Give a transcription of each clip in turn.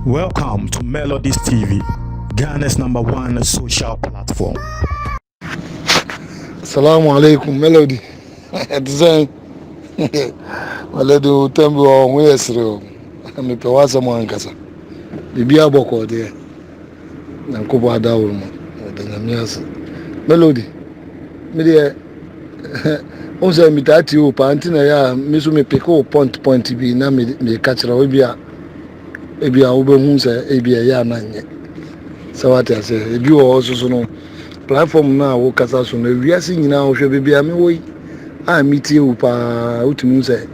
Welcome to Melodies TV, Ghana's number one social platform. Assalamu alaikum, Melody. Design. Melody, o tembo o nguyesre o. Mi pe wasa mo ankasa. Bibi aboko de. Nyankopɔn ada wo mu. Ɔda Nyame ase. Melody, me deɛ wohu sɛ metaa tie wo paa nti na ɛyɛ a me so mepeke wo point point bi na meka kyerɛ wo ebia ebia wobɛhu sɛ ebia ɛyɛ a na nyɛ sɛ wate aseɛ ebi wɔ hɔ soso no platform no a wokasa so no wiase nyinaa wohwɛ baabi a mewɔ yi a metie wo paa wotumi hu sɛ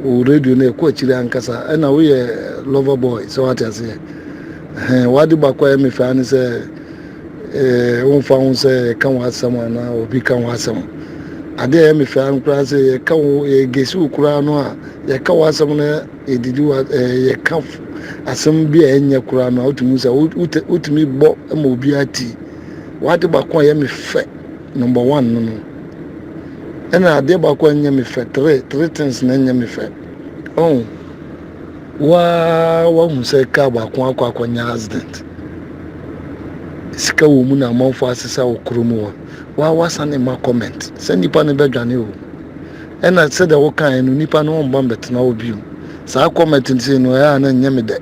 Wo radio no ɛkɔ akyiri ankasa ɛna woyɛ lover boy sɛ wate aseɛ ɛhɛn wade baako a ɛme faa ne sɛ ɛɛ womfa ho sɛ ɛka wo asɛm anaa obi ka wo asɛm adeɛ a ɛme faa no koraa sɛ yɛka wo yɛgesi wo koraa no a yɛka wo asɛm no yɛdidi wo ɛɛ yɛka asɛm bi a ɛnyɛ koraa no a wotumi sɛ wotumi bɔ ma obiara ti wade baako a ɛme fɛ number one no no Ɛna adeɛ baako a ɛnyɛ me fɛ three three things na ɛnyɛ me fɛ ɔn waa wahu sɛ kaa baako akɔ akɔnya accident sika wɔ mu na amanfo asesa wɔ kuro mu hɔ waa wasa ne ma comment sɛ nipa no bɛdwane o ɛna sɛdeɛ wokaeɛ no nipa no ɔmba mbɛtena hɔ bio saa comment no sei no ɛyɛ a na ɛnyɛ me dɛ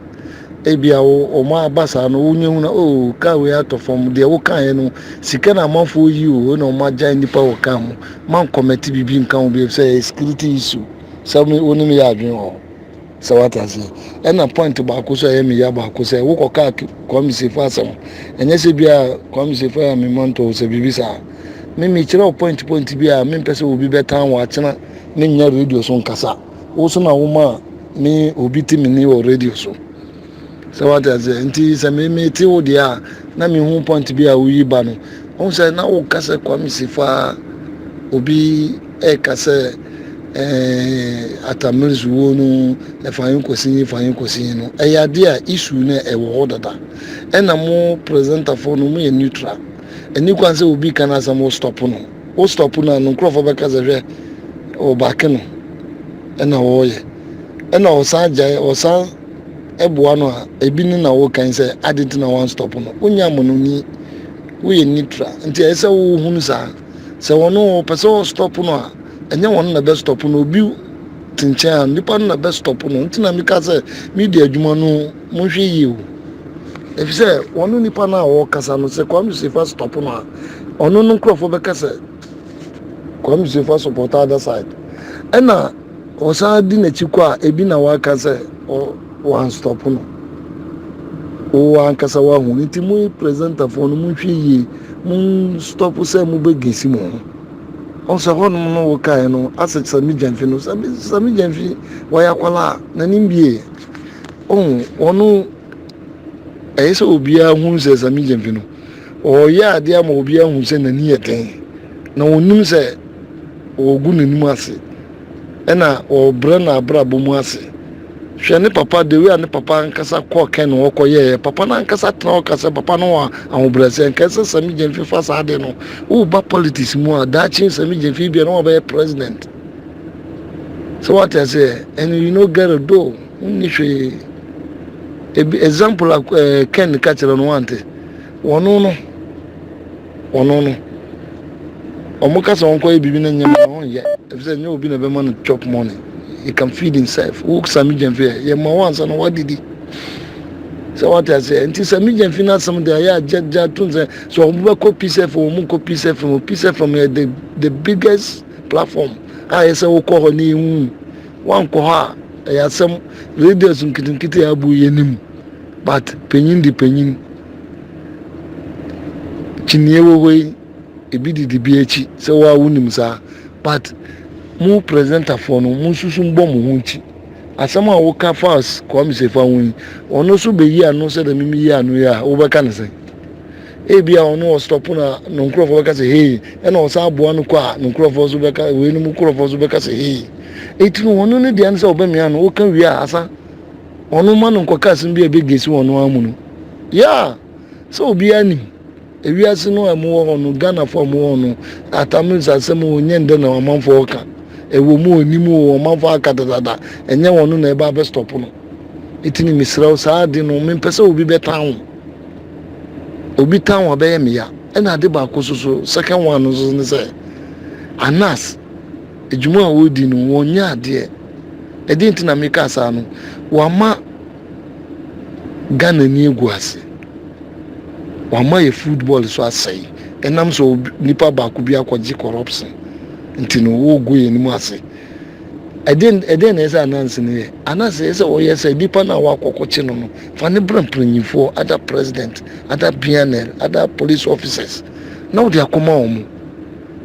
ebia wɔn aba saa no wonyɛ hu na o kaa wei atɔ fam deɛ wokaeɛ no Sika na amanfoɔ reyi o, na wɔn agyan nnipa wɔ car mu, man kɔmɛte biribi nka ho bio efisɛ ɛyɛ security issue, sɛ me wo ne me yɛ adwene wɔ hɔ, sɛ wate aseɛ, ɛna point baako so a ɛyɛ me ya baako sɛ wo kɔ car Kwame Sefo asɛm, ɛnyɛ sɛ bia Kwame Sefo yɛ me mantɔ o sɛ biribi saa, me me kyerɛ wo point point bi a me mpɛ sɛ obi bɛtan wɔ akyena me nyɛ radio so nkasa, wo so na wo ma me obi te me ni wɔ radio so. Sɛ wate aseɛ nti sɛ me me te wo deɛ a na me hu point bi a woyi ba no ɔhu sɛ na woka sɛ Kwame Sifaa obi ɛka sɛ ɛɛ atamere so wuo no ɛfa yɛn kɔsi yi fa yɛn kɔsi yi no ɛyɛ adeɛ a isu no ɛwɔ hɔ dada ɛna mo presentafoɔ no mo yɛ neutral ɛni kwan sɛ obi ka no asɛm wo stop no wo stop no a no nkurɔfoɔ bɛka sɛ hwɛ ɔbaake no ɛna wɔyɛ ɛna ɔsan gyae ɔsan boa no a ebi ne na wokan sɛ ade nti na wɔanstɔpo no wonya mmɔnoni woyɛ nitra nti ɛyɛ sɛ wohunu saa sɛ wɔn wɔpɛ sɛ wɔstɔpo no a ɛnyɛ wɔn na bɛstɔpo no obi te nkyɛn a nipa no na bɛstɔpo no nti na meka sɛ media adwuma no monhwɛ yie o ɛfi sɛ wɔn nipa no a wɔkasa no sɛ Kwame Sefa stɔpo no a ɔno no nkurɔfoɔ bɛka sɛ Kwame Sefa support other side ɛna Ɔsan di n'akyi kɔ a, ebi na waka sɛ wɔanstɔpo no. Wo ankasa woahu no. Nti mo presentafo no monhwɛ yie, monstɔpo sɛ mobɛgesi mo ho. Ɔhu sɛ hɔnom no wokaeɛ no, asɛ Sami Gyamfi no, Sami, Sami Gyamfi, wɔyɛ akwadaa a, n'anim bie. Ɔhu, wɔn no, ɛyɛ sɛ obiara hu sɛ Sami Gyamfi no, Ɔreyɛ ade ama obiara ahu sɛ n'ani yɛ den, na onnim sɛ wɔregu n'anim ase, ɛnna wɔrebrɛ no abrabɔ mu ase. Hwɛ ne papa, the way a ne papa ankasa kɔɔ Ken hɔ kɔyɛeɛ. Papa no ankasa tena hɔ ka sɛ papa no wɔ ahobrɛaseɛ. Nka ɛsɛ Sammy Gyamfi fa saa ade no. Woba politics mu a, daakye Sammy Gyamfi ebia na wabɛyɛ president. Sɛ wate aseɛ, and you no get it though, wonni hwee. Ebi example a eh, Ken ka kyerɛ no wante. Wɔno no, wɔno no, wɔn kasa wɔn kɔ yɛ biribi na nyɛma na wɔn yɛ, ebi sɛ nyɛ obi na ɛbɛma no chop money, he can feed himself. Wo sami gyɛnfi yɛ, yɛ ma wɔn ansa na wɔadidi. Sɛ wɔte aseɛ, nti sami gyɛnfi na asɛm de ayɛ agyagya to nsɛ, sɛ wɔn bɛkɔ peace FM, wɔn kɔ peace FM, wɔn peace FM yɛ the the biggest platform a yɛ sɛ wokɔ hɔ na yɛn hu, wɔn ankɔ hɔ a ɛyɛ asɛm, radios nketenkete a abu yɛ nim. But panyin de panyin kyiniiɛ wɔ hɔ yi ebi didi bi akyi sɛ waa wonim saa but mo presentafoɔ no mo nsusu mbɔ mo ho nkyi asɛm a woka faas Kwame Sefa ho yi ɔno so bɛyi ano sɛ dɛ mimi yi ano yi a wobɛka ne sɛn ebi a ɔno ɔstɔpo na no nkurɔfoɔ bɛka sɛ hei ɛna ɔsan aboa no kɔ a no nkurɔfoɔ so bɛka wei no mu nkurɔfoɔ so bɛka sɛ hei ɛti no ɔno ne deɛ no sɛ ɔbɛmea no woka wie a asa wɔn mma no nkɔka asɛm bi a ebegesi wɔn ara mu no. Yeah! Sɛ obiara nim, ewiase no a ɛmu wɔ hɔ no, Ghanafo a wɔwɔ hɔ no, Atamils asɛm o, nyɛ ndɛ na ɔmanfo reka. Ɛwɔ mu o, nni mu o, ɔmanfo aka dadaada. Ɛnyɛ wɔn na ɛba abɛstɔpo no. Enti no mesrɛ wo, saa ade no, mempɛ sɛ obi bɛtan wo. Obi tan wo a, ɛbɛyɛ me ya. Ɛna ade baako nso so, second one nso so ne sɛ, Anas, Dwuma a wɔredi no, wɔnyɛ adeɛ. Ɛdeɛn nti na meka saa no, wɔama Ghana ani agu ase. Wɔama yɛ football so asɛe. Ɛnam sɛ obi, nipa baako bi akɔgye corruption nti no, wɔregu yɛn anim ase. Ɛdeɛn, ɛdeɛn na ɛsɛ ananse no yɛ? Ananse ɛsɛ ɔyɛ sɛ nipa no a wɔakɔkɔkye no no, fa no bra mpanimfoɔ, ada president, ada BNL, ada police officers, na wode akɔma wɔn.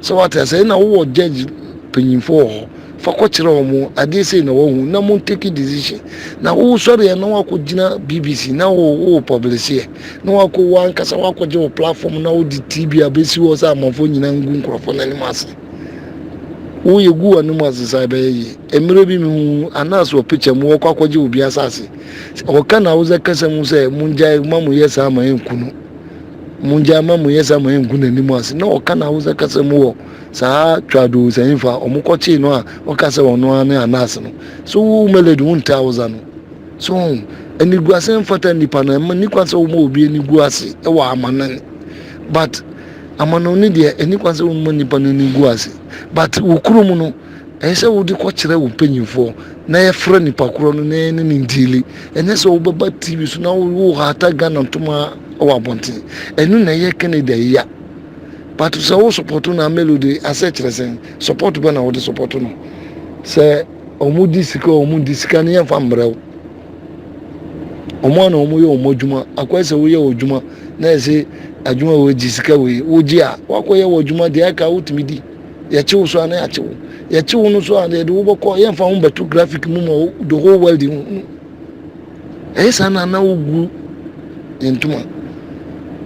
So wate asɛe na wowɔ judge panyimfo wɔ hɔ fa kɔ kyerɛ wɔn adeɛ sei na wahu na mo take decision na wo sɔre yɛ na wakɔ gyina bbc na wo wo publish yɛ na wakɔ wo ankasa wakɔ gye wo platform na wo di tv abɛsi hɔ sɛ amanfoɔ nyinaa ngu nkurɔfoɔ no anim ase wo yɛ gu anim ase saa ɛbɛyɛ yie mmerɛ bi mehu anaasɛ wɔ picture mu wɔkɔ akɔgye obi asase ɔka na wosɛ kasa mu sɛ mongyae ma mo yɛ saa ma ɛnku no Mongyae ma monyɛ saa ma ɛngu n'anim ase. Na ɔka n'Hausa kasa mu wɔ saa Tchado nsanyimfo a wɔkɔkyee no a ɔka sɛ ɔno ara ne Anas no. So wo Melody wonte Hausa no? So ho? Aniguase mfata nnipa no, ɛmma nni kwan sɛ woma obi ani gu ase wɔ amanɔne. But amanɔne deɛ ɛnni kwan sɛ woma nnipa no ani gu ase. But wo kurom no, ɛsɛ sɛ wode kɔkyerɛ wo mpanyimfoɔ na yɛfrɛ nipa korɔ no na yɛne ne ndiili ɛnyɛ sɛ wobɛba tv so na wohata ghana ntoma wɔ abɔnten ɛno na ɛyɛ kennedy ayia but sɛ wo support na melody asɛ kyerɛ sɛn support bɛ na wode support no sɛ ɔmo di sika ɔmo di sika no yɛmfa mmerɛ wo ɔmo ana ɔmo yɛ ɔmo adwuma akɔyɛ sɛ woyɛ wɔ adwuma na ɛsɛ adwuma wɔ gye sika wei wogye a wakɔyɛ wɔ adwuma deɛ aka wotumi di Yɛkye wo so a na yɛakye wo. Yɛkye wo no so a yɛde wo bɛkɔ yɛmfa ho bɛto graphic mu ma the whole world hu. Ɛyɛ saa na na wogu yɛn ntoma.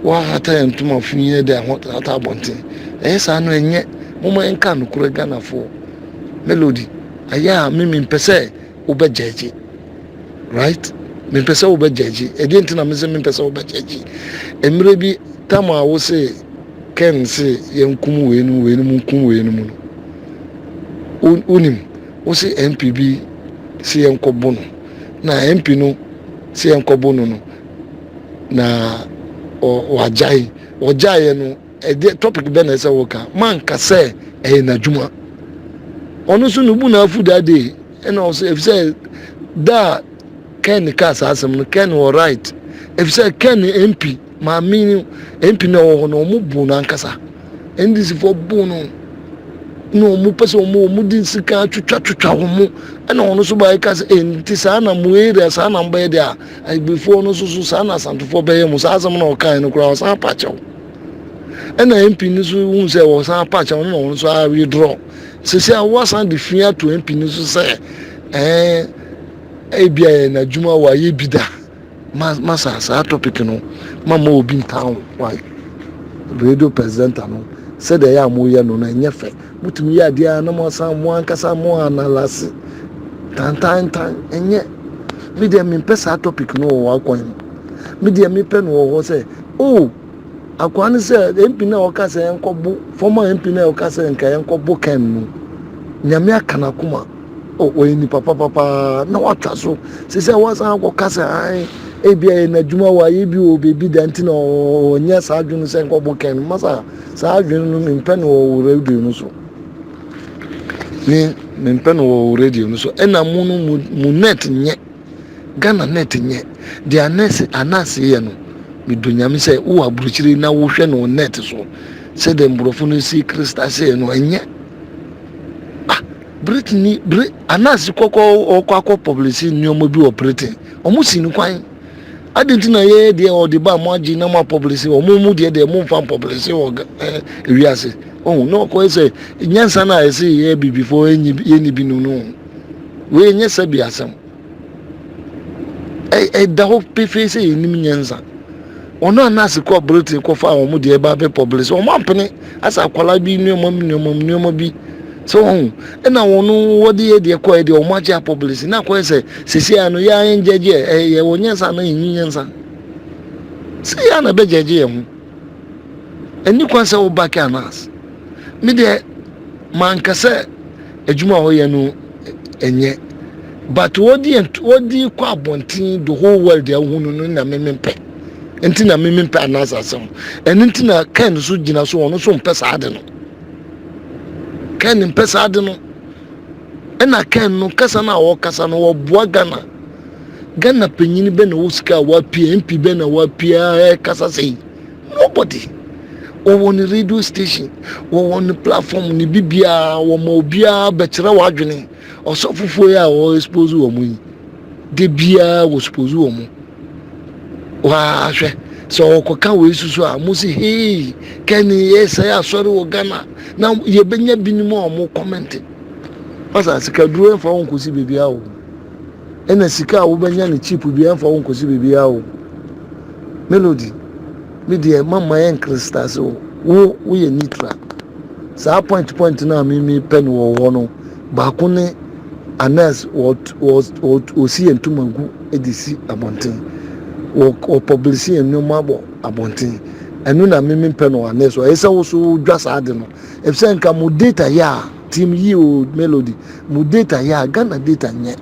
Woahata yɛn ntoma fi yɛ de ahata abɔnten. Ɛyɛ saa no ɛnyɛ. Momma yɛnka nokorɛ Ghanafoɔ. Melody, ayɛ a mimi mpɛ sɛ wobɛ gyɛgye right mempɛ sɛ wobɛ gyɛgye ɛdeɛ nti na me sɛ mempɛ sɛ wobɛ gyɛgye mmerɛ bi tam a wo se ken se yɛnkum wei no wei no mu nkum wei no mu no wonim wo se mp bi se yɛnkɔbo no na mp no se yɛnkɔbo no no na wagyae ɔgyaeɛ no Ɛdeɛ topic bɛ na ɛsɛ wo ka. Manka sɛ ɛyɛ n'adwuma. Ɔno nso no bu na afu that day. Ɛna ɔsɛ efisɛ da a Ken kaa saa asɛm no Ken wɔ right. Efisɛ Ken MP maame no MP na ɛwɔ hɔ no ɔmo bu no ankasa. NDC fo bu no na ɔmo pɛ sɛ ɔmo ɔmo di nsika twitwa twitwa wɔn mo ɛna ɔno nso baayɛ ka sɛ ɛn nti saa na mo area saa na mo bɛyɛ deɛ a agbefoɔ no nso so saa na asantefoɔ bɛyɛ mo saa asɛm na ɔkan no koraa ɔsan apakyɛw. ɛna MP no nso hu sɛ wɔsan apaakyɛ wɔn na wɔn nso a withdraw sisi a wɔasan de fi ato MP no nso sɛ ɛɛ ebi a yɛ n'adwuma wɔ ayɛ bi da ma ma saa saa topic no ma ma obi ntan wae radio presenter no sɛdeɛ ɛyɛ a moyɛ no no ɛnyɛ fɛ motumi yɛ adeɛ a na moasan mo ankasa mo analase tantantan ɛnyɛ medeɛ mempɛ saa topic no wɔ wakwan mu medeɛ mepɛ no wɔ hɔ sɛ Oh akwaa ne sɛ MP no a ɔka sɛ yɛnkɔbo former MP no a ɔka sɛ nka yɛnkɔbo Ken no nyame aka n'akoma oh ɔyɛ nipa papapaa na watwa so sɛ sɛ wasan akɔka sɛ an ebi ayɛ n'adwuma wɔ ayɛ bi wɔ baabi da nti na ɔnyɛ saa adwene sɛ nkɔbo Ken no masa saa adwene no mempɛ no wɔ radio no so ne mempɛ no wɔ radio no so ɛna mu no mu net nyɛ Ghana nɛt nyɛ deɛ anɛse anase yɛ no medɔ nyame sɛ wowɔ aburokyire na wohwɛ no wɔ nɛt so sɛdeɛ mborɔfo no si krista sɛ no ɛnyɛ ah Britain bere anase kɔkɔ ɔkɔ akɔ publicity nneɛma bi wɔ Britain ɔmo si no kwan adi nti na yɛyɛ deɛ ɔde ba mo agye na mo apɔblese ɔmo mu deɛ deɛ mo nfa mpɔblese wɔ ɛɛ ewiase ɔho na ɔkɔ sɛ nyansa na ɛsɛ yɛ bibifoɔ yɛnyi bi no no. Wei nyɛ sɛbea asɛm. Ɛda hɔ pefee sɛ yɛnim nyansa. Wɔn a nurse kɔ Britain kɔfa wɔn deɛ ɛba bɛ publish wɔn ampene asɛ akwadaa bi nneɛma mu nneɛma mu nneɛma bi sɛ wɔn ɛna wɔn wɔde yɛ deɛ kɔɛ deɛ wɔn agye apublish na akɔyɛ sɛ sisi ano yɛ ayɛ ngyɛgye ɛyɛ wɔn nyansa na yɛn nyansa sɛ yɛ ana bɛ gyɛgye yɛn ho Ɛnni kwan sɛ wobake anaas. Me deɛ, manka sɛ adwuma a wɔyɛ no nyɛ, but wɔde yɛn wɔde kɔ abɔnten the whole world a wohu no no na me mempɛ. Nti na me mempɛ anaas asɛm. Ɛno nti na Ken nso gyina so ɔno nso mpɛ saa ade no. Ken mpɛ saa ade no. Ɛna Ken no kasa no a ɔkasa no ɔboa Ghana. Ghana panyin bɛ na ɔwɔ sika a wapia MP bɛ na wapia ɛkasa sɛi. Nobody. Wɔwɔ ne radio station, wɔwɔ ne platform ne bibiara wɔma obiara bɛkyerɛ w'adwene. Ɔsɔfofoɔ yi a ɔ expose wɔn yi de biara wɔ expose wɔn. Wahwɛ sɛ ɔkɔka wei susu a mo si hei kɛne yɛ sɛ asɔre wɔ Ghana na yɛbɛnya binom a wɔn kɔmɛnte. Pastor, sikaduro ɛmfa wo nkosi biribiara o. Ɛna sika a wobɛnya no cheap bi ɛmfa wo nkosi biribiara o. Melody, me deɛ mama yɛ nkrista ase o. Wo woyɛ neutral. Saa point point no a mimi pɛ no wɔ hɔ no, baako ne Anas wɔsi yɛn ntoma gu de si abɔnten. Wɔpublisi yɛn nneɛma bɔ abɔnten. Ɛno na mimi pɛ no wɔ Anas hɔ. Ɛsɛ sɛ wo so wodwa saa ade no. Efisɛ nka mo data yɛ a, team yi o, Melody, mo data yɛ a, Ghana data nyɛ.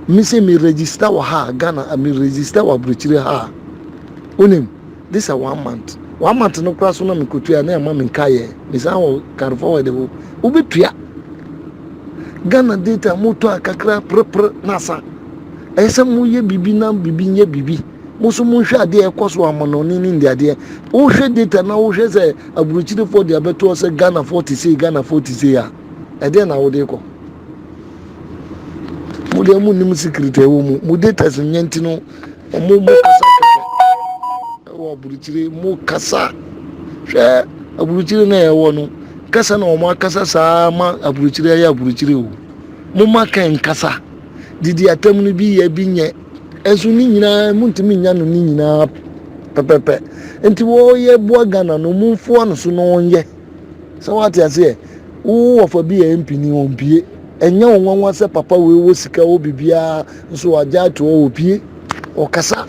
Me se me register wɔ ha a, Ghana, me register wɔ aburokyire ha a, wonim, this a one month, one month no koraa so na me kɔtua a, na ɛma me nkaeɛ, me san wɔ carry forward o, wobɛtua. Ghana data mo tɔ a kakra prepre na asa. Ɛyɛ sɛ mo yɛ biribi na biribi nyɛ biribi. Mo nso monhwɛ adeɛ a ɛkɔ so amanɔne ne nniadeɛ. Wohwɛ data na wohwɛ sɛ aburokyirefoɔ de abɛtoɔ sɛ Ghanafoɔ te sei, Ghanafoɔ te sei a, ɛdeɛn na wode kɔ? Mo deɛ monnim secret a ɛwɔ mu. Mo datas nyɛ nti no, mo mo kasa kɛkɛ ɛwɔ aburokyire mo kasa. Hwɛ aburokyire na ɛwɔ no kasa na wɔn akasa saa ma aburokyire ayɛ aburokyire o. Mo ma kɛn kasa. Didi atam no bi yɛ bi nyɛ. Nso ne nyinaa muntumi nya no ne nyinaa pɛpɛpɛ nti wɔyɛ boa Ghana no mumfoa no so na ɔnyɛ sɛ wate aseɛ wo wɔfa bi yɛ mpini ɔmpie ɛnyɛ wo nwanwa sɛ papa wei wɔ sika wɔ biribiara nso wagya ato hɔ ɔpie ɔkasa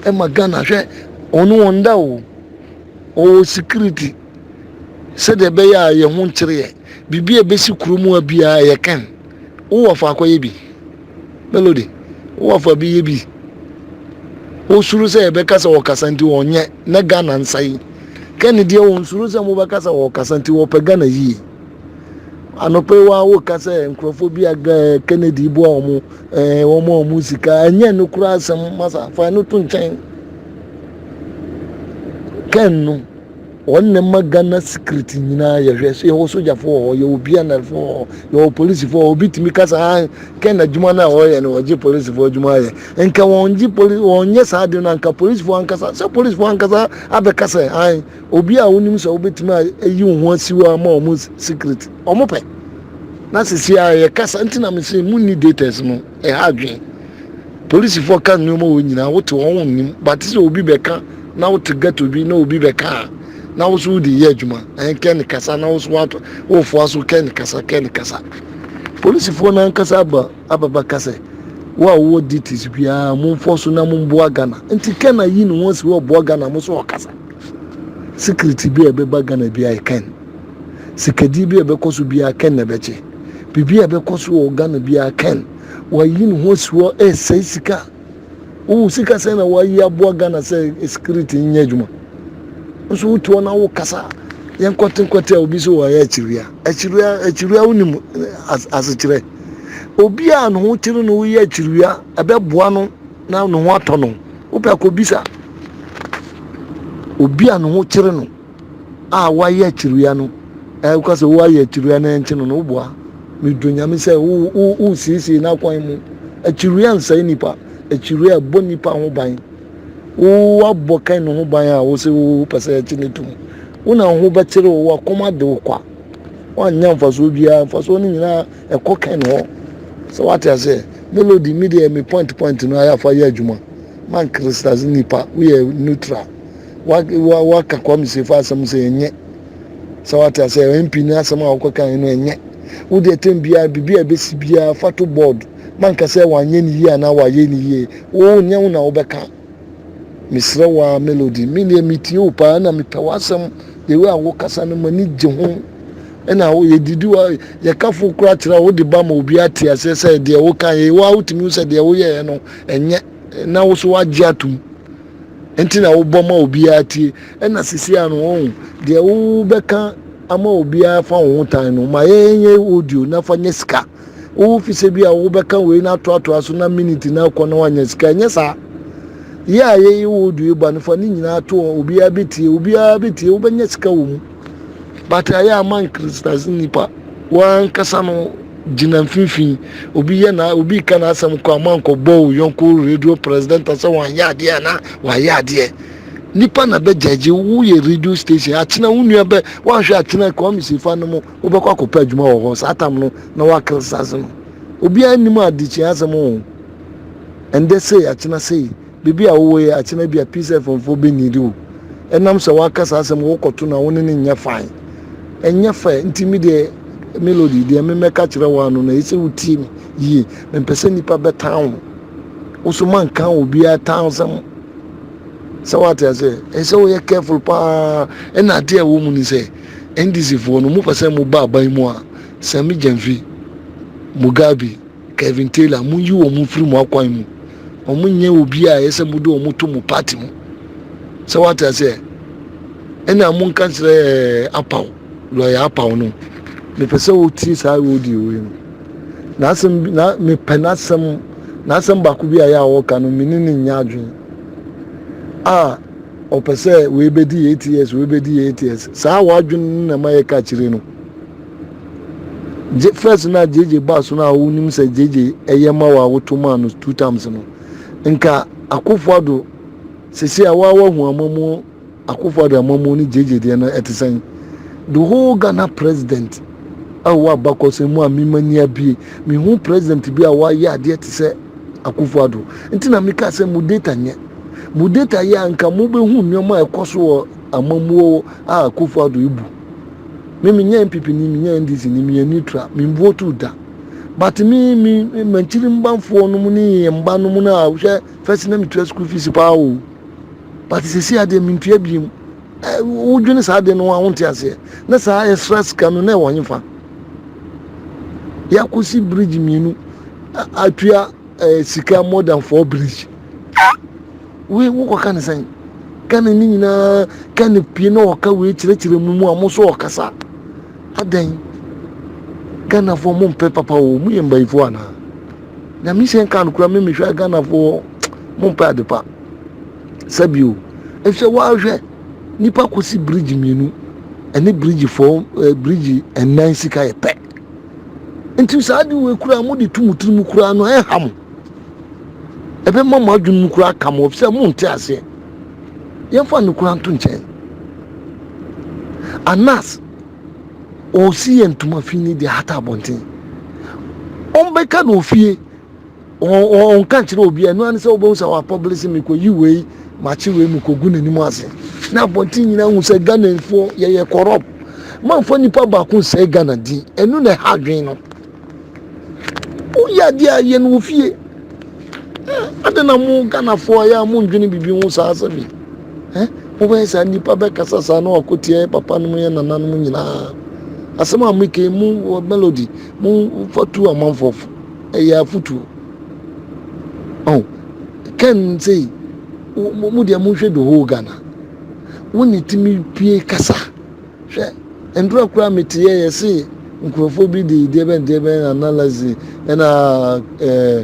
ɛma Ghana hwɛ ɔno wɔn da o ɔwɔ security sɛdeɛ ɛbɛyɛ a yɛn ho nkyereɛ Biribi a ɛbɛsi kuro mu ha biara ɛyɛ Ken. Wo wɔfo akɔyɛ bi. Melody, wo wɔfo abɛyɛ bi. Wosuro sɛ yɛbɛka sɛ wɔkasa nti wɔnyɛ na Ghana nsa yi. Ken deɛ wɔnsuro sɛ mobɛka sɛ wɔkasa nti wɔpɛ Ghana yie. Anɔpa yi wa woka sɛ nkurɔfoɔ bi a Kennedy boa wɔn ɛɛ wɔn a wɔn sika ɛnyɛ no kura asɛm masa fa ɛno to nkyɛn. Ken no Wɔ ndɛ ma Ghana security nyina yɛhwɛ so yɛwɔ sogyafo wɔ hɔ, yɛwɔ PNL fo wɔ hɔ, yɛwɔ police fo wɔ hɔ, obi tumi ka sɛ aah nkɛ nadwuma no a wɔyɛ no wɔgye police fo adwuma ayɛ, nkɛ wɔngye police wɔnyɛ saa ade no a nka police fo ankasa sɛ police fo ankasa abɛka sɛ aah obi a wonim sɛ wobɛtumi a ayi wo ho asi hɔ ama wɔn security wɔpɛ na sesei a yɛkasa nti na mese monni dates no. ɛha adwene. Polisifoɔ ka nneɛma wɔ nyinaa, wote wɔn wɔn nim, bate sɛ obi bɛka na wote ghetto bi na obi bɛka a, na wo so wode yɛ adwuma, ɛn kɛ ne kasa na wo so wato wofoa so kɛ ne kasa kɛ ne kasa. Polisifoɔ no ankasa aba ababa ka sɛ wo a wowɔ duties biara momfoɔ so na momboa Ghana. Nti kɛ na yi ne ho asi hɔ ɔboa Ghana mo so ɔkasa. Security bi a ɛbɛba Ghana bi a ɛkɛn. Sikadzi bi a ɛbɛkɔ so biara kɛn na ɛbɛkye. Biribi a ɛbɛkɔ so wɔ Ghana biara kɛn. Wɔayi no ho asi hɔ resɛe sika. Wohu sika sɛn na wɔayi aboa Ghana sɛ security nyɛ adwuma. Nso wote hɔ na wokasa a, yɛnkɔte nkɔte a obi sɛ wɔayɛ akyiriwia. Akyiriwia akyiriwia wonim asekyerɛ. Obi a ne ho kyere no woyɛ akyiriwia ɛbɛboa no na ne ho atɔ no. Wopɛ a kɔbisa obi a ne ho kyere no. a wɔayɛ akyirwia no, ɛɛ woka sɛ woayɛ akyirwia na ɛnkye no no, woboa. Medɔ Nyame sɛ wo, wo, wosiesie n'akwan mu. Akyirwia nsɛe nnipa. Akyirwia ɛbɔ nnipa ho ban. Wo, woabɔ Kain no ho ban a wose wo, wopɛ sɛ ɛkye no tom. Wo na wo ho bɛkyere wo, w'akoma ade wo kwa. Woannya mfasoɔ biara, mfasoɔ no nyinaa ɛkɔ Kain hɔ. Sɛ woate aseɛ? Melody, me deɛ me point point no ayɛ afa yɛ adwuma. Man crystals nnipa, woyɛ neutral. waka kwame sefo asɛm sɛ ɛnyɛ sɛ wate asɛ mp no asɛm a wokɔkae no ɛnyɛ wode ɛtɛm biara biribi a ɛbɛsi biara fa to board manka sɛ wanyɛ ne yie anaa wayɛ ne yie wo nyɛ wo na wobɛka mesrɛ wo a melody meneɛ metie wo paa na mepɛ w'asɛm the way a wokasa no m'ani gye ho ɛna yɛdidi wa yɛkafo kora kyerɛ wo de ba ma obi ate aseɛ sɛ deɛ woka yɛ wo a wotumi wo sɛ deɛ woyɛɛ no ɛnyɛ na wo so wagye atom Nti na wobɔ ma obiara tie. Ɛna sisi ano wɔn deɛ wobɛka ama obiara fa wo ho tan no ma yɛnyɛ audio na fa nyɛ sika wo fi sɛ bi a wobɛka wei na atoatoa so na minute na akɔ na wanyɛ sika ɛnyɛ saa yɛ a yɛyɛ audio ba no fa ne nyinaa to hɔ obiara bɛtie obiara bɛtie wobɛnyɛ sika wɔ mu But ayɛ a man criticize nipa wankasa no gyina mfimfini obi yɛ na obi ka n'asɛm kɔ a man kɔ bɔ o yɔnko radio president sɛ wɔn ayɛ adeɛ a na wɔayɛ adeɛ nipa na bɛ gyagye wo yɛ radio station akyena wo nua bɛ wɔanhwɛ akyena kɔ ɔmi si fa no mu wobɛkɔ akɔpɛ adwuma wɔ hɔ saa tam no na wa criticize no obi anim adekyia asɛm o ɛndɛ sei akyena sei Baabi a wowɔ yi, akyena bi a Peace FM foɔ bɛ needi wo. Ɛnam sɛ w'aka saa asɛm wo kɔto no a, wo ne no nyɛ fine. Ɛnyɛ fair, nti me deɛ Melody, deɛ me mɛka kyerɛ wo ara no, na ɛsɛ wo tie me yie. Me mpɛ sɛ nnipa bɛ tan wo. Wo nso ma nka obiara tan asɛm. Sɛ w'ate aseɛ? Ɛsɛ wo yɛ careful paa. Ɛna adeɛ a ɛwɔ mu ni sɛ, NDC foɔ no, mo pɛ sɛ mo ba aban mu a, Sir Migyamfi, Mugabe, Kevin Taylor, Monyi wɔn mfiri mo akwan mu. Wɔn nyɛ obi a ɛyɛ sɛ mode wɔn to mo party mu. Sɛ wate aseɛ. Ɛna monka kyerɛ eh, apaw, lɔya apaw no. Mepɛ sɛ wotie saa audio wei no. N'asɛm bi, na mepɛ n'asɛm, n'asɛm baako bi a yɛ a wɔka no, me ne ne nyɛ adwene. A, ɔpɛ sɛ wei bɛdi yɛ eight years, wei bɛdi yɛ eight years. Saa w'adwene no na ɛma yɛka akyire no. Gye first na JJ baa so no a wonim sɛ JJ ɛyɛ ma wɔ a woto maa no two times no nka akofo ado sisi a waa wahu amamuo akofo ado amamuo ne JJ deɛ no ɛte sɛn the whole Ghana president a wɔ abakɔsɛm mu a mema ni abie mehu president bi a wayɛ adeɛ te sɛ akofo ado nti na meka sɛ mo data nyɛ mo data yɛ a nka mobɛhu nneɛma a ɛkɔ so wɔ amamuo a akofo ado ebu me me nyɛ npp ni me nyɛ ndc ni me yɛ neutral me vote da but me me mankyiri mbanfoɔ no mu ne yɛ mba no mu no a hwɛ first na metua school fees paa o but sisi adeɛ mentua biem wodwene saa adeɛ no ho a wonte aseɛ na saa ɛsra sika no na ɛwɔ hefa yɛakɔsi bridge mmienu atua eh, sika more than four bridge ah! Wei wo kɔ ka no sɛn? Ka no ne nyinaa, ka no pie na ɔka wei kyerɛkyerɛ mu mu a mo so ɔkasa. Adɛn? Ghanafoɔ mo mpɛ papa o, mo yɛ mbayifoɔ anaa? Nyame hyɛ nka no kura me mehwɛ a Ghanafoɔ mo mpɛ adepa. Sɛbi o, ɛfisɛ woahwɛ nipa kɔsi bridge mmienu ɛne bridge fɔ eh, bridge ɛnan sika yɛ pɛ. Nti saa de wei kura mo de tu mo tiri mu kura no ɛha mo. ɛbɛma mo adwene mu kura aka mo sɛ monte aseɛ yɛmfa no kura nto nkyɛn anas ɔsi yɛ ntoma fi ne deɛ hata abɔnten ɔmbɛka no ofie ɔnka nkyerɛ obi ɛno ane sɛ wobɛhu sɛ wɔapɔbele se mekɔyi wei makye wei mekɔgu n'anim ase na abɔnten nyina hu sɛ ghanafoɔ yɛyɛ kɔrɔp mamfa nipa baako nsɛe ghana din ɛno na ɛha adwene no Woyɛ adeɛ a yɛ no wɔ fie. Adɛn na mo Ghanafoɔ yɛ a mo ndwene biribi ho saa sɛ me. Mobɛyɛ saa nnipa bɛkasa saa na wakotia yɛ papa nom yɛ nana nom nyinaa. Asɛm a meka yi mo wɔ melody mo fa tu amanfoɔ fo. Ɛyɛ afutuo. Oh, Ken sei mo deɛ monhwɛ the whole Ghana. Wo ne timi pie kasa. Hwɛ, ndura koraa a metseyɛ yɛ se nkorɔfoɔ bi de deɛbɛn deɛbɛn analyze ɛna eh,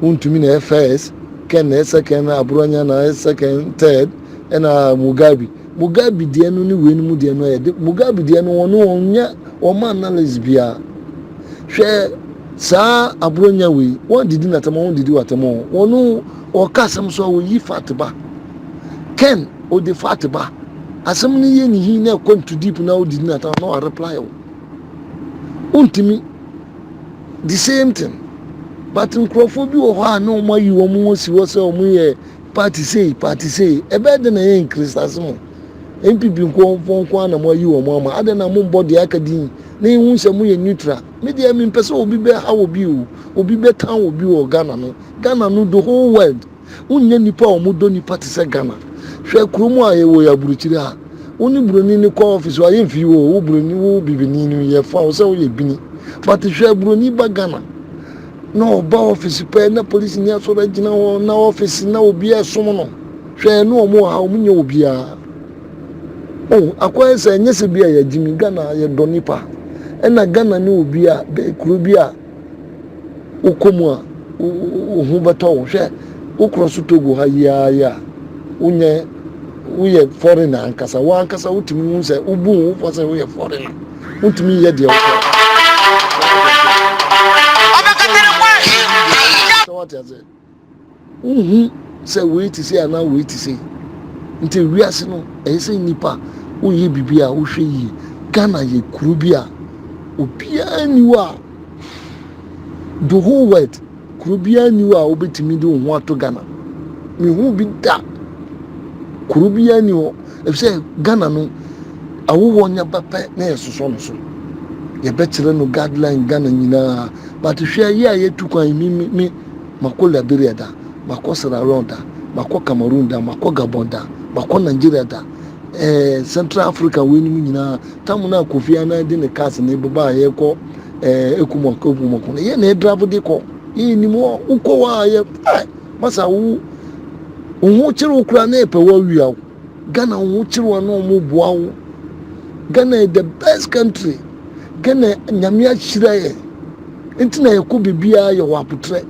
wontumi na ɛyɛ first, kɛn na ɛyɛ second, na aborɔnya na ɛyɛ second, third, ɛna Mugabe. Mugabe deɛ no ne weinom deɛ no ɛyɛ de, Mugabe deɛ no wɔn wɔnyɛ wɔn analyze biara. Hwɛ saa aborɔnya wei, wɔn didi na tɛmɔ, wɔn didi wa tɛmɔ, wɔn Wɔka asɛm so a woyi fat ba. Ken ɔde fat ba. Asɛm no yɛ ne hin na ɛkɔ into deep na wodidi na tam na wa reply wo. Wontumi. The same thing. But nkurɔfoɔ bi wɔ hɔ a na wɔn ayi wɔn ho si hɔ sɛ wɔn yɛ party sei party sei. Ɛbɛyɛ dɛn na ɛyɛ nkiristaase mu? NPP nkurɔfoɔ nko ara na mo ayi wɔn ama. Adɛn na mo mbɔ deɛ aka din na yɛhu sɛ mo yɛ neutral? Me deɛ mempɛ sɛ obi bɛha obi o, obi bɛtan obi wɔ Ghana no Ghana no the whole world wo nya nipa a ɔmo dɔ nipa te sɛ Ghana hwɛ kuro mu a yɛ wɔ yɛ aburokyire ha wo ne buroni no kɔ office wa yɛ mfi wo wo buroni wo bibini no yɛ fa wo sɛ wo yɛ bini but hwɛ buroni ba Ghana na ɔba office pɛ na police ni asɔre agyina hɔ na office na obi a ɛsom no hwɛ ɛno ɔmo wɔ ha ɔmo nyɛ wɔ biara o oh, akɔ yɛ sɛ ɛnyɛ sɛ bi a yɛ gyimi Ghana yɛ dɔ nipa ɛna Ghana ne obi a kuro bi a wokɔ mu a, wo ho bɛtɔ wo. Hwɛ, wokorɔ so tɔ gu ha yi ara yi a, wonyɛ, woyɛ foreigner ankasa. Wo ankasa wotumi hu sɛ wobu wo fɔ sɛ woyɛ foreigner. Wontumi nyɛ deɛ wopɛ. Sɛ wate aseɛ. Wonhu sɛ wei te sei anaa wei te sei. Nti wiase no ɛyɛ sɛ nnipa woyɛ biribi a wohwɛ yie. Ghana yɛ kuro bi a obiara nni hɔ a the whole world kuro biara nni hɔ a wobɛtumi de wo ho ato Ghana. Menhuu bi da. Kuro biara nni hɔ ɛfisɛ Ghana no awoɔ nya ba pɛ na yɛsosɔ no so. Yɛbɛkyerɛ no guideline Ghana nyinaa but hwɛ yɛ a yɛtu kwan me me me Makɔ Liberia da, makɔ Sierra Leone da, makɔ Cameroon da, makɔ Gabon da, makɔ Nigeria da, ɛɛ Central Africa weinom nyinaa. Tam no a Kofi Annan de ne cars no bɛba a yɛkɔ ɛɛ Ekumo Ekumo ko no, yɛn na yɛdrave de kɔ. Yɛn nim hɔ, wokɔ hɔ a yɛ ɛɛ masa wo wo ho kyere wo koraa na yɛpɛ wo awia wo. Ghana wo ho kyere wo ana ɔmo boa wo Ghana yɛ the best country Ghana nyame ahyira yɛ nti na yɛkɔ biribiara yɛ wɔ abotrɛ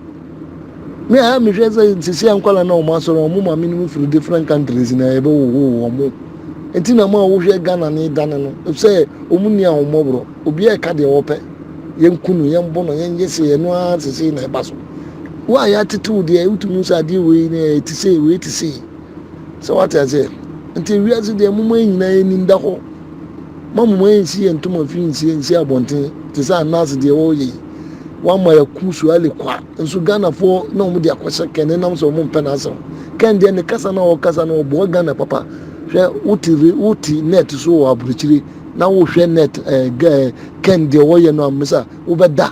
me a mehwɛ sɛ nsisi ankwala na ɔmo asɔre ɔmo ma me no firi different countries na yɛbɛ wo wo ɔmo nti na mo a wohwɛ Ghana ne dane no sɛ ɔmo ni a ɔmo borɔ obi a ɛka deɛ wɔpɛ yɛn kunu yɛn bono yɛn yɛ se ɛno ara sisi na ɛba so wo a yɛatete wo deɛ wotumi sɛ adeɛ wei ne ɛte sei wei te sei So wate aseɛ? Nti wiase deɛ mo man nyinaa yɛnim da hɔ ma mo man nsi yɛ ntoma fi nsi nsi abɔnten te sɛ anas deɛ wɔyɛ yi wama yɛku suale kwa nso ghanafoɔ na wɔn de akɔhyɛ kɛn ne nam sɛ wɔn mpɛ n'asɛm kɛn deɛ ne kasa na ɔkasa no ɔboa ghana papa hwɛ wote re wote net so wɔ aburukyire na wohwɛ net ɛɛ gɛɛ kɛn deɛ wɔyɛ no amesa wobɛda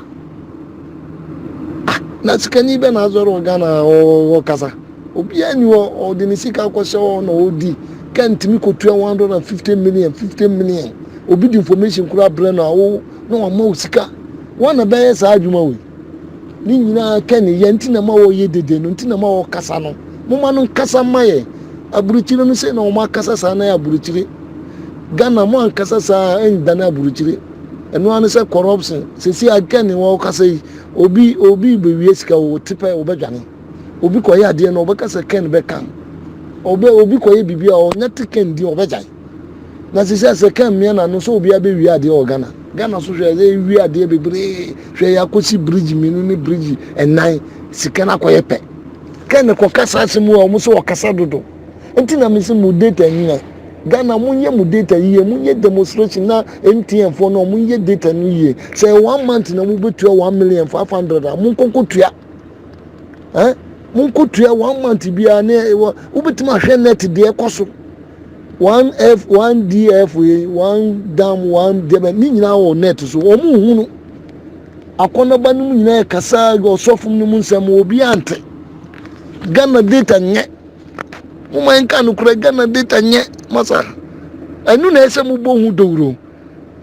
ah na sikani bɛ na azɔre wɔ ghana ɔkasa Obiara nni hɔ a ɔde ne sika kɔhyɛ hɔ na ɔredi. Car ntumi kɔtua 150 million, 50 million. Obi de information koraa brɛ no a, wo na wama wo sika. Wo na bɛyɛ saa adwuma wei. Ne nyinaa kɛ ne yɛ nti na ma wɔyɛ dede no, nti na ma wɔkasa no. Moma no nkasa mma yɛ. Aburokyire no sei na wɔn akasa saa na yɛ aburokyire. Ghana mo ankasa saa a ɛndane aburokyire. Ɛno ara ne sɛ corruption. Sɛsi a kɛ ne wɔkasa yi, obi obi bɛwie sika o, te pɛ wobɛdwane. Obi kɔyɛ adeɛ no ɔbɛka sɛ Ken bɛka no. Ɔbɛ obi kɔyɛ biribi a ɔnya te Ken din ɔbɛgyae. Na sisɛ sɛ Ken mmea n'ano sɛ obiara bɛwie adeɛ wɔ Ghana. Ghana so hwɛ sɛ ewie adeɛ bebree hwɛ yɛakɔsi bridge mmienu ne bridge nnan sika no akɔyɛ pɛ. Ken kɔka saa asɛm yi a wɔn sɛ ɔkasa dodo. Nti na mese mo data nyina. Ghana monyɛ mo data yie monyɛ demonstration na MTN foɔ no wɔn nyɛ data no yie. Sɛ ɛyɛ one month na mobɛtua one million five hundred a monkɔ nkɔtua. ɛ monkotua one month biara ne ɛwɔ wobɛtumi ahwɛ net deɛ ɛkɔ so one f one df one dam one dɛbɛ ne nyinaa wɔ net so wɔn mu hunu akɔnɔba no mu nyinaa kasa ɔsɔfo no mu nsɛm obi ante ghana data nyɛ mo man ka no kura ghana data nyɛ masa ɛnu na ɛsɛ mo bɔ ho dawuro.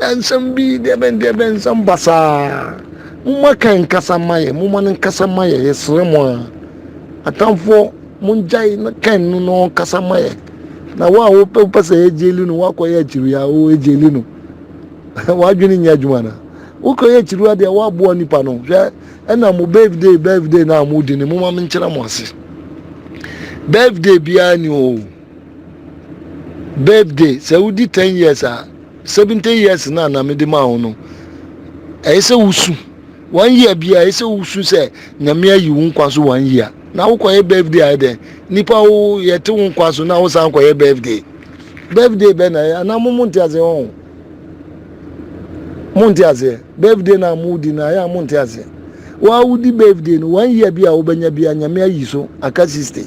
Nsɛm bi deɛbɛn deɛbɛn nsɛm basaa momma kan nkasa mma yɛn momma no nkasa mma yɛn yɛsrɛ mo a atamfoɔ mongyae na kan no na ɔnkasa mma yɛn na wo a wopɛ wopɛ sɛ yɛgyeli no woakɔyɛ akyiri a wo ɛgyeli no wadwene nyɛ adwuma no wokɔyɛ akyiri adeɛ woaboa nipa no hwɛ ɛna mo birthday birthday no a modi no momma menkyerɛ mo ase birthday biara ni o birthday sɛ wodi ten years a seventeen years na na mede maa wo no ɛyɛ sɛ wosu one year bi a ɛyɛ sɛ wosu sɛ nyame ayi wo nkwa so one year na wokɔyɛ birthday ayɛ dɛn nipa wo yɛte wo nkwa so na wosan kɔyɛ birthday birthday bɛ na ɛyɛ anaa mo mo nte aseɛ wɔn mo nte aseɛ birthday na mo di na ayɛ a mo nte aseɛ wɔn a wodi birthday no one year bi a wobɛnya bi a nyame ayi so aka sixty.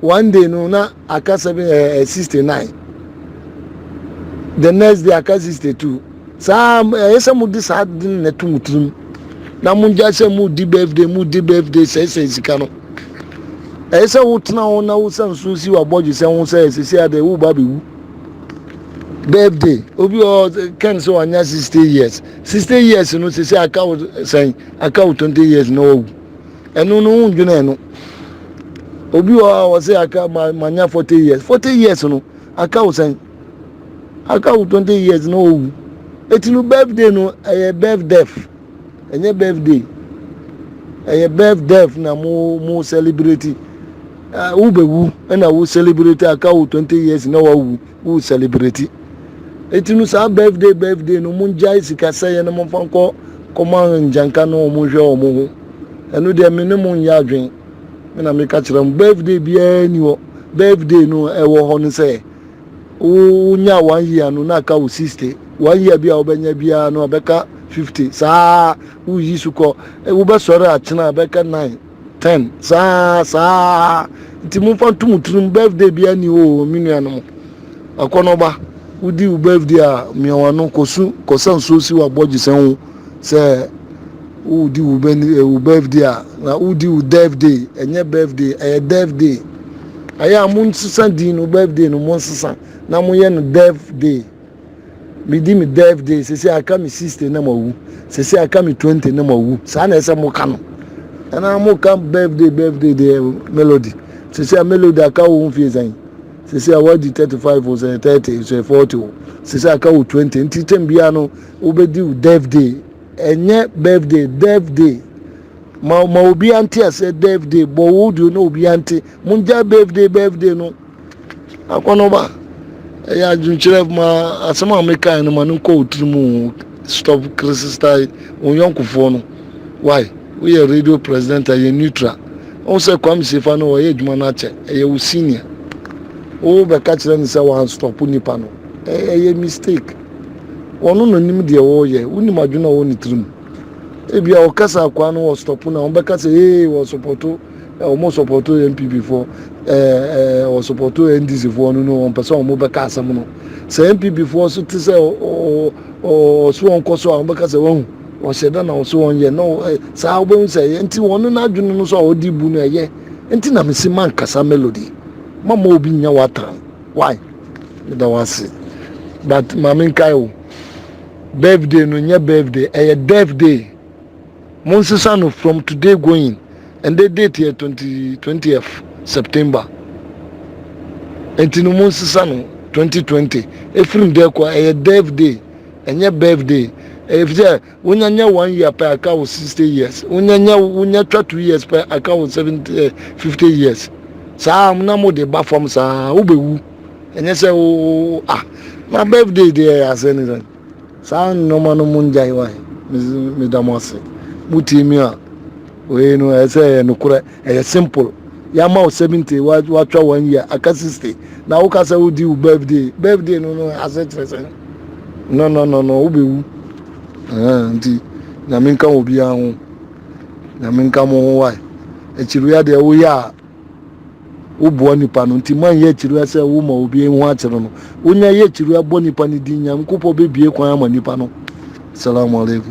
One day no na aka seven ɛɛ eh, eh, sixty nine the next day aka sixty two saa ɛyɛ sɛ mo de saa de na ɛto mo tirim na mo gya sɛ mo di birthday mo di birthday sɛsɛ sika no ɛyɛ sɛ wotena ho na wosan so si wabɔdwe sɛ ho sɛ ɛsɛ sɛ adɛ woba bɛwu birthday obi ɔ ken sɛ wanya sixty years sixty years no sɛ sɛ aka wo sɛn aka wo twenty years na wawu Ɛno no wo ndwene ɛno. Obi wɔ hɔ a wɔ sɛ aka ma ma nya forty years forty years no aka wo sɛn aka wo twenty years na owu eti no birthday no ɛyɛ birth death ɛnyɛ birthday ɛyɛ birth death na mo mo celebrate ɛɛ wo bɛ wu ɛna wo celebrate aka wo twenty years na wawu. wo celebrate eti no saa birthday birthday no mo ngyae sika sɛyɛ no mo fa nkɔ kɔma ngyanka no wɔn nhwɛ wɔn ho ɛno deɛ me ne mo nyɛ adwen me na meka kyerɛ mo birthday biara ni hɔ birthday no ɛwɔ hɔ no sɛ wo nya one year no na aka wo sixty one year bi a wobɛnya biara no abɛka fifty saa woyi so kɔ wobɛsɔre akyena abɛka nine ten saa saa nti momfa nto mo tirim birthday biara ni o me nuanom akɔnɔba wodi wo birthday a mmeawa no kɔsu kɔsa nsuo si wabɔgye sɛ ho sɛ wodi wo eh, birthday a na wodi wo death day ɛnyɛ birthday ɛyɛ death day ɛyɛ a monsesa din no birthday no monsesa na moyɛ no death day medi me birthday sese aka me sixty na mawu sese aka me twenty na mawu saa na ɛsɛ mo ka no ɛna mo ka birthday birthday deɛ melody sese a melody aka wo mfie sɛn sese a wadi thirty five o sɛ thirty sɛ forty o sese aka wo twenty nti kyɛn biara no wobɛdi wo birthday ɛnyɛ birthday birthday ma ma obi ante asɛ birthday bɔ wo deɛ na obi ante mo ngya birthday birthday no. Akɔnɔba, ɛyɛ adwenkyerɛ ma asɛm a mekae no ma no nkɔ wo tirim o. Stop criticize wo yɔnkofoɔ no. Why? Woyɛ radio presenter, yɛ neutral. Wohu sɛ Kwame Sefa no ɔyɛ adwuma no akyɛ, ɛyɛ wo senior. Wobɛka kyerɛ no sɛ wanstɔpo nipa no. Ɛyɛ mistake. Ɔno na ɔnim deɛ ɔreyɛ. Wonim adwene a ɔwɔ ne tirim. Ebia ɔkasa akoa no ɔstɔpo no a, wobɛka sɛ ee wɔsɔpɔto Eh ɔmo sɔpɔto NPP foɔ eh eh ɔmo sɔpɔto NDC foɔ no no ɔmpɛ sɛ ɔmo bɛka asɛm no sɛ NPP foɔ so te sɛ ɔso ɔnkɔ so a ɔmo bɛka sɛ wahu ɔhyɛ da na ɔso ɔnyɛ no eh saa ɔbɛhu sɛ ɛyɛ nti wɔn n'adwene no so a ɔde bu no ɛyɛ nti na mesi ma nkasa melody ma ma obi nya watan why meda wase but maame nkae o birthday no nyɛ birthday ɛyɛ death day Monsesa no from today going ɛndɛ date yɛ twenty twentieth September nti no monsesa no twenty twenty ɛfiri ndɛ kɔ ɛyɛ death day ɛnyɛ birthday ɛfisɛ wonya nyɛ one year pɛ aka wo sixty years wonya nyɛ wonya twa two years pɛ aka wo seventy eh, fifty years saa na mo de ba fam saa wobɛwu ɛnyɛ sɛ wo ah na birthday deɛ yɛ asɛ ne sɛ Saa nnoɔma no mo ngyae wae meda mo ase mo tie me a wei no ɛyɛ sɛ ɛyɛ nokorɛ ɛyɛ simple yɛama wo 70 watwa one year aka 60 na woka sɛ wodi wo birthday birthday no no ase kyerɛ sɛ no no no no wobɛwu nti nyame nka wɔ biara ho nyame nka mo ho wae akyiriwia deɛ woyɛ a Woboa nipa no nti moanyɛ akyiriwia sɛ wo ma obi hu akyere no. Wonya yɛ akyiriwia bɔ nipa no din Nyankopɔn bɛbie kwan ama nipa no. Salamu alaikum.